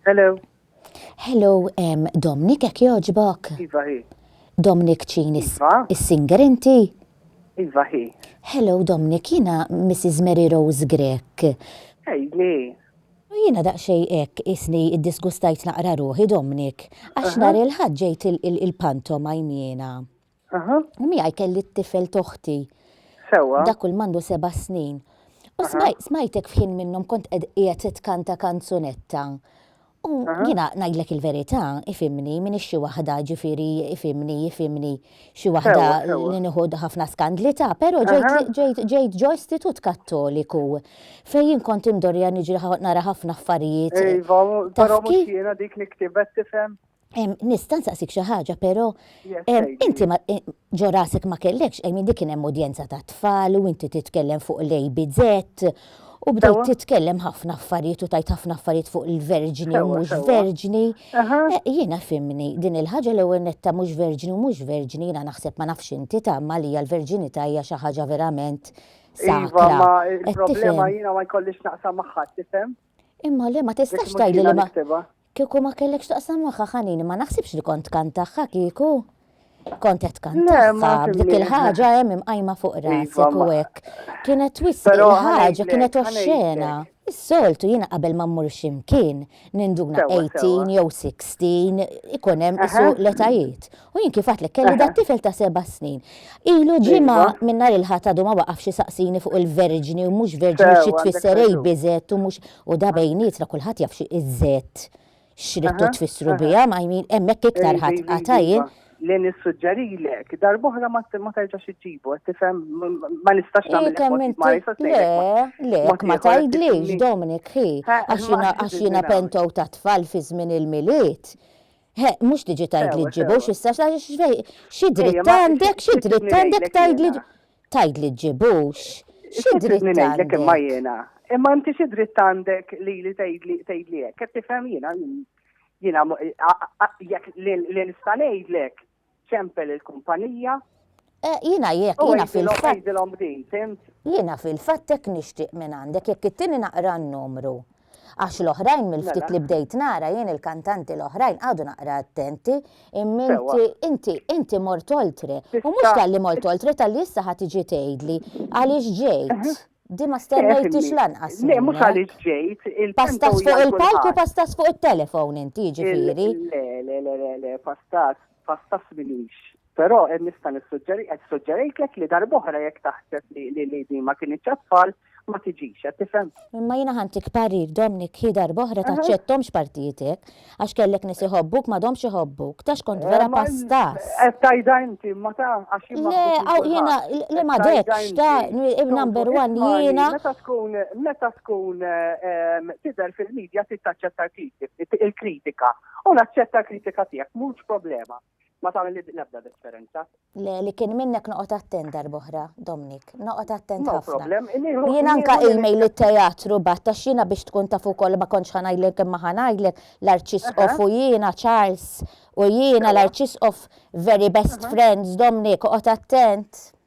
Hello. Hello, um, Dominic, ek joġbok? Iva, hi. Dominic ċin iva. is-singer inti? Iva, hi. Hello, Dominic, jina Mrs. Mary Rose Grek. Ejni. Jina daqxej ek isni id-disgustajt naqra ruħi, Dominic, għax nar il-ħadġejt il-pantom għajnjena. Aha. Miegħi kelli t-tifel toħti. Sewwa. Dak kull mandu seba' snin. U smajtek f'ħin minnhom kont qed qiegħed titkanta kanzunetta. U jiena ngħidlek il-verità, ifimni, minn xi waħda ġifieri ifimni, ifimni, xi waħda li nieħu ħafna skandli ta', però ġejt ġo istitut kattoliku fejn jien kont indorja niġri nara ħafna affarijiet. Iva, però mhux jiena dik li ktibet tifhem. Nista' nsaqsik xi ħaġa, però inti ġo rasek ma kellekx qejmi dik kien hemm udjenza ta' tfal u inti titkellem fuq l-ABZ u bdejt titkellem ħafna affarijiet u tajt ħafna affarijiet fuq il-verġni u mhux verġni. Jiena fimni din il-ħaġa l-ewwel netta mhux verġni u mhux verġni jiena naħseb ma nafx inti tagħma li l-verġinità hija xi ħaġa verament sakra. Iva, il-problema jiena ma jkollix naqsam magħha tifhem. Imma le ma tistax tgħidli li ma. Kieku ma kellek x'taqsam magħha ħanini ma naħsibx li kont tkant tagħha kieku. Kont qed tkant tagħha b'dik il-ħaġa hemm imqajma fuq iva, rasek u hekk. Kienet twissi il-ħaġa kienet oxxena. Is-soltu jiena qabel ma mmur x'imkien ninduna 18 jew 16 ikun hemm isu l-etajiet. U jien kif għatlek kelli dat tifel ta' seba' snin. Ilu iva. ġimgħa minn nhar il-ħadd għadu ma waqafx saqsini fuq il-verġni u mhux verġni xi tfisser ejbizet u mhux U da bejnietna kulħadd jaf xi iż-żed x'ridtu tfissru biha, ma jmin hemmhekk iktar ħadd qata' jien. Li nissuġġerilek, darb'oħra ma terġax iġġibu, qed tifhem, ma nistax nagħmel kemm ma nistax ngħidlek. Le, le, ma tgħidlix, Dominic, ħi, għax jiena pentow ta' tfal fi żmien il-Milied. He, mhux tiġi tgħidli ġġibux issa xi dritt għandek, xi dritt għandek tgħidli. Tgħid li ġġibux? Xi dritt għandek? Imma jiena, imma inti xi dritt għandek li li tgħidli hekk, qed tifhem jiena jiena jekk li nista' ngħidlek ċempel il-kumpanija. Eh, jiena jekk jiena fil-fatt. Jiena fil-fatt hekk nixtieq minn għandek jekk it-tieni naqra n-numru. Għax l-oħrajn mill-ftit li bdejt nara jien il-kantanti l-oħrajn qagħdu naqra attenti, imma inti, inti, inti mort oltre. U mhux talli mort oltre, talli issa ħa tiġi tgħidli għaliex ġejt. Din ma stennejthiex lanqas minnek. Le, mhux għaliex ġejt. Pastas fuq il-palk u pastas fuq it-telefon inti, jiġifieri. Le, le, le, le, le, pastas, pastas minix. Però nista' nissuġġeri qed suġġerejtlek li darb'oħra jekk taħseb li li li din ma kinitx għat-tfal ma tiġix, qed tifhem? Imma jiena ħantik parir, Dominic, hi darb'oħra taċċetthomx partijietek, għax kellek nies iħobbuk m'għadhomx iħobbuk, taf kont vera pastas. Qed tgħidha inti imma ta' għax jien Le, għaw jiena le ma dekx ta' number one jiena. Meta tkun meta tkun tidher fil-media trid taċċetta il-kritika. U naċċetta l-kritika tiegħek, mhux problema. ma tagħmel l-ebda differenza. Le, li kien minnek noqgħod attent darboħra, Dominic, noqgħod attent ħafna. Jien anka il-mejl li teatru bat ta' xina biex tkun taf ukoll ma kontx ħanajlek imma ħanajlek l-arċisqof u jiena Charles u jiena l-arċisqof very best friends Dominic, oqgħod attent.